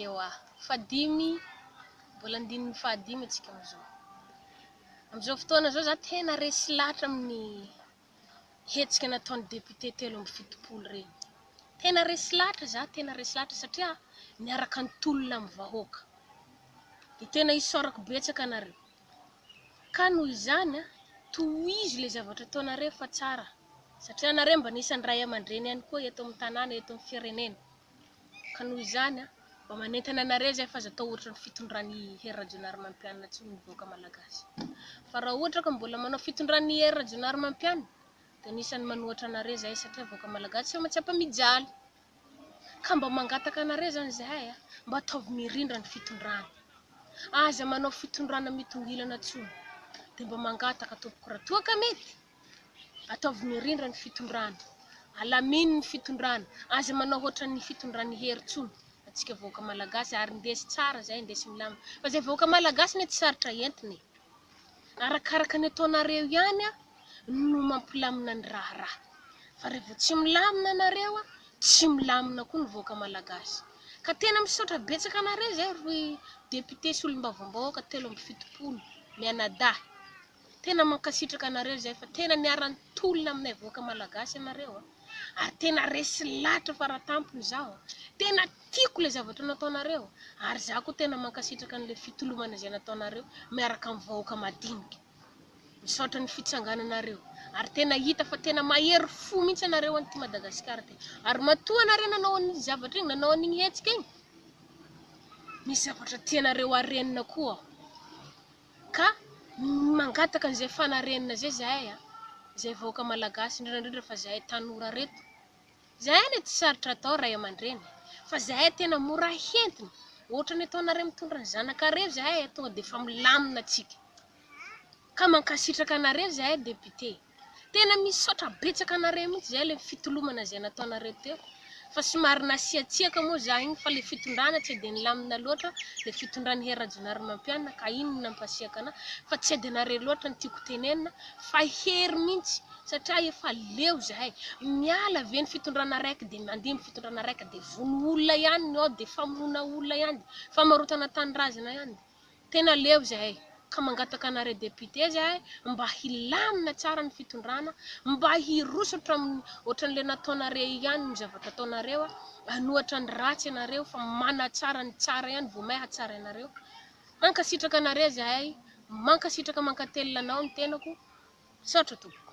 Ewa. Fahadimy, mbola andininy fahadimy antsika amin'izao. Amin'izao fotoana izao za tena resy lahatra amin'ny hetsika nataon'ny député telo amby fitopolo ireny. Tena resy lahatra za, tena resy lahatra satria miaraka ny tolona amin'ny vahoaka. Dia tena isaorako betsaka anareo. Ka noho izany a, tohizo ilay zavatra ataonareo fa tsara. Satria anareo mba anisan'ny ray aman-dreny ihany koa eto amin'ny tanàna, eto amin'ny firenena. Ka noho izany, mba manentana anareo izay fa aza atao ohatra ny fitondran'i Hery Rajaonarimampianina intsony ny vahoaka malagasy. Fa raha ohatra ka mbola manao fitondran'i Hery Rajaonarimampianina dia anisan'ny manohatra anareo izahay satria vahoaka malagasy sao tsy ampamijaly. Ka mba mangataka anareo izany izahay mba ataovy mirindra ny fitondrana. Aza manao fitondrana mitongilana intsony. Dia mba mangataka tompoko raha toa ka mety. Ataovy mirindra ny fitondrana. Alamino ny fitondrana. Aza manao hoatran'ny fitondran'i Hery tsony atsika vahoaka malagasy ary ndesy tsara zay ndesy milamina fa zay vahoaka malagasy ne tsy sarotra entina e! Arakaraka ny ataonareo ihany a no mampilamina ny raharaha fa revô tsy milamina nareo a tsy milamina koa ny vahoaka malagasy ka tena misaotra betsaka anareo zay ry député solombavambahoaka telo amby fitopolo mianadahy Tena mankasitraka anareo izay fa tena miara tolona aminay vahoaka malagasy ianareo a! ary tena resy lahatra fara tampony izaho a! tena tiako ilay zavatra nataonareo ary izaho koa tena mankasitraka an'ilay fitolomana izay nataonareo miaraka amin'ny vahoaka madinika. Misaotra ny fitsangananareo ary tena hita fa tena mahery fo mihitsy ianareo any ity Madagasikara ity ary matoa ianareo nanao an'iny zavatra iny, nanao an'iny hetsika iny, misy zavatra tianareo harenina koa aho. Ka mangataka an'izay fanarenana izay zahay a! Izay vahoaka malagasy indrindra indrindra fa zahay tanora reto. Zahay anie tsy sarotra atao ray aman-dreny e! Fa zahay tena mora hentina. Ohatran'ny ataonareo mitondra ny zanakareo zahay tonga dia efa milamina tsika. Ka mankasitraka anareo zahay député. Tena misaotra betsaka anareo mihitsy zay le fitolomana zay nataonareo teo fa somary nasiatsiaka moa za iny fa le fitondrana tsy de nilamina loatra le fitondran'i Hery Rajaonarimampianina ka iny no nampasiaka anah fa tsy de anareo loatra no tiako tenenina fa i Hery mihitsy satria efa leo zahay miala ve ny fitondrana raiky de mandeha ny fitondrana raiky de vono olona ihany ny ao de famonoana olona ihany de famarotana tanindrazana ihany de. Tena leo zahay ka mangataka anareo député zahay mba hilamina tsara ny fitondrana mba hiroso hatramin'ny ohatran'ilay nataonareo ihany ny zavatra ataonareo anohatra ny ratsy ianareo fa manatsara ny tsara ihany vao may hatsara ianareo. Mankasitraka anareo zahay mankasitraka mankatelina anao ny tenako misaotra tompoko.